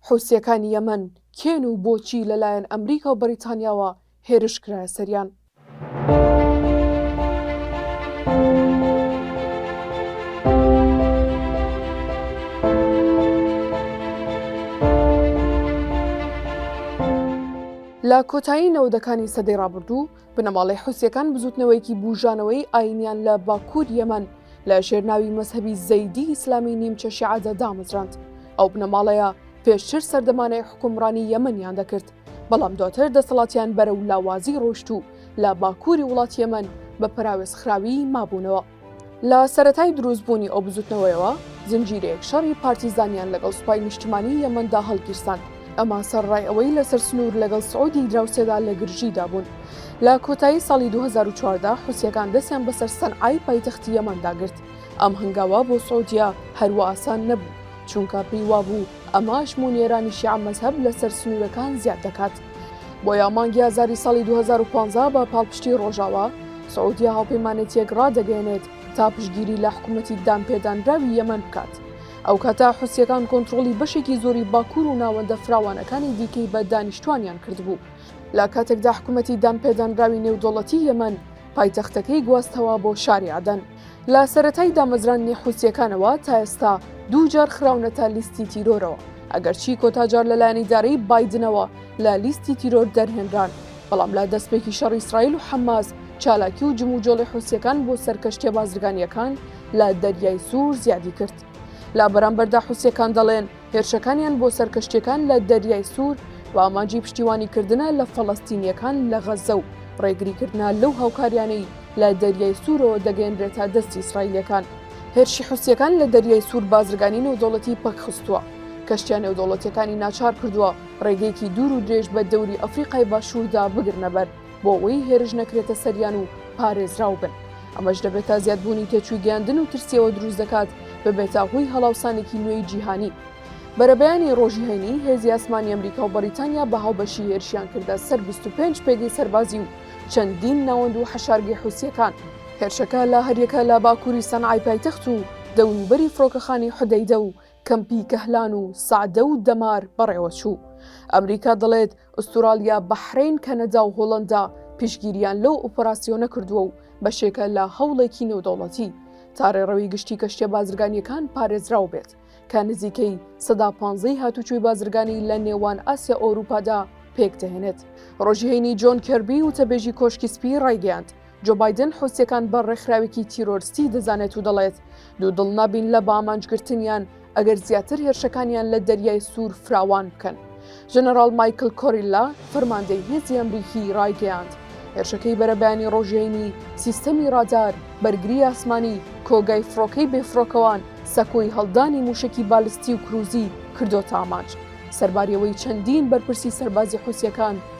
حوسییەکانی یەمەن کێن و بۆچی لەلایەن ئەمریکا و بەریتانیاوە هێرش کرایە سەریان؟ لە کۆتایی نەوەدەکانی سەدەی ڕابردوو، بنەماڵەی حوسیەکان بزوتنەوەیەکی بوژانەوەی ئاینیان لە باکوور یەمەن لە ژێرناوی مەذهبی زەیدی ئیسلامی نیمچە شعادە دامەزراند ئەو بنەماڵەیە پێشتر سەردەمانەی حکومڕانی یەمەنیان دەکرد بەڵام دواتر دەسەڵاتیان بەرە و لاوازی ڕۆشت و لە باکووری وڵات یەمەن بە پراوێزخراوی مابوونەوە. لە سەرەتای دروستبوونی ئەو بزوتنەوەیەوە زنجیرەیەک شەڕی پارتیزانیان لەگەڵ سوپای نیشتمانی یەمەندا هەڵگیرساند ئەمە سەرڕای ئەوەی لەسەر سنوور لەگەڵ سعودی دراوسێدا لە گرژیدا بوون لە کۆتایی ساڵی 2014 حوسیەکان دەستیان بەسەر سەنعای پایتەختی یەمەندا گرت ئەم هەنگاوە بۆ سعودیە هەروا ئاسان نەبوو چونکە پێی وابوو ئەمە ئەژموونی ئێرانی شیعە مەزهەب لەسەر سنوورەکان زیاد دەکات بۆیە مانگی ئازاری ساڵی 2015 بە پاڵپشتی ڕۆژاوا سعودیا هاوپەیمانێتیەک ڕادەگەێنێت تا پشگیری لە حکوومەتی دانپێدانراوی یەمەند بکات. ئەو کاتە حوسیەکان کۆنتترۆلی بەشێکی زۆری باکوور و ناوەندە فراوانەکانی دیکەی بە دانیشتوانیان کردبوو. لە کاتێکدا حکوومەتی دانپێدانراوی نێودەوڵەتی یەمەند پایتەختەکەی گواستەوە بۆ شاری عەدەن. لە سەرەتای دامەزراندنی حوسییەکانەوە تا ئێستا دوو جار خراونەتە لیستی تیرۆرەوە، ئەگەرچی کۆتا جار لەلایەن ئیدارەی بایدنەوە لە لیستی تیرۆر دەرهێنران، بەڵام لە دەستپێکی شەڕی ئیسرائیل و حەماس چالاکی و جموجۆڵی حوسییەکان بۆ سەر کەشتییە بازرگانییەکان لە دەریای سوور زیادی کرد. لە بەرامبەردا حوسییەکان دەڵێن، هێرشەکانیان بۆ سەر کەشتییەکان لە دەریای سوور بە ئامانجی پشتیوانیکردنە لە فەڵەستینییەکان لە غەززە و ڕێگریکردنە لەو هاوکاریانەی لە دەریای سوورەوە دەگەیەنرێتە دەستی ئیسرائیلییەکان. هێرشی حوسییەکان لە دەریای سوور بازرگانی نێودەوڵەتی پەکخستووە، کەشتییە نێودەوڵەتییەکانی ناچار کردووە ڕێگەیەکی دوور و درێژ بە دەوری ئەفریقای باشووردا بگرنەبەر. بۆ ئەوەی هێرش نەکرێتە سەریان و پارێزراو بن ئەمەش دەبێت تا زیادبوونی تێچووی گەیاندن و ترسیەوە دروست دەکات ببێتە هۆی هەڵاوسانێکی نوێی جیهانی بەرەبەیانی ڕۆژی هەینی هێزی ئاسمانی ئەمریکا و بەریتانیا بە هاوبەشی هێرشیان کردە سەر 25 پێگەی سەربازی و چەندین ناوەند و حەشارگەی حوسیەکان هێرشەکە لە هەریەکە لە باکووری سەنعای پایتەخت و دەوروبەری فڕۆکەخانی حدەیدە و کەمپی کەهلان و سەعدە و دەمار بەڕێوەچوو. ئەمریکا دەڵێت ئوستورالیا، بەحرەین، کەنەدا و هۆڵەندا پشتگیریان لەو ئۆپەراسیۆنە کردووە و بەشێکە لە هەوڵێکی نێودەوڵەتی تا رێڕەوی گشتی کەشتیە بازرگانییەکان پارێزراو بێت کە نزیکەی سەدا پانزە ی هاتوچۆی بازرگانی لە نێوان ئاسیا ئەوروپادا پێکدەهێنێت. رۆژی هەینی جۆن کێربی وتەبێژی کۆشکی سپی رایگەیاند جۆ بایدن حوسییەکان بە ڕێکخراوێکی تیرۆرستی دەزانێت و دەڵێت، دوودڵ نابین لە بەئامانجگرتنیان ئەگەر زیاتر هێرشەکانیان لە دەریای سوور فراوان بکەن. ژەنەراڵ مایکل کۆریلا، فەرماندەی هێزی ئەمریکی ڕایگەیاند، هێرشەکەی بەرەبەیانی ڕۆژەینی، سیستەمی ڕادار، بەرگری ئاسمانی، کۆگای فڕۆکەی بێفڕۆکەوان، سەکۆی هەڵدانی مووشەکی بالستی و کروزی کردۆتە ئامانج. سەرباریەوەی چەندین بەرپرسی سەربازی حوسییەکان،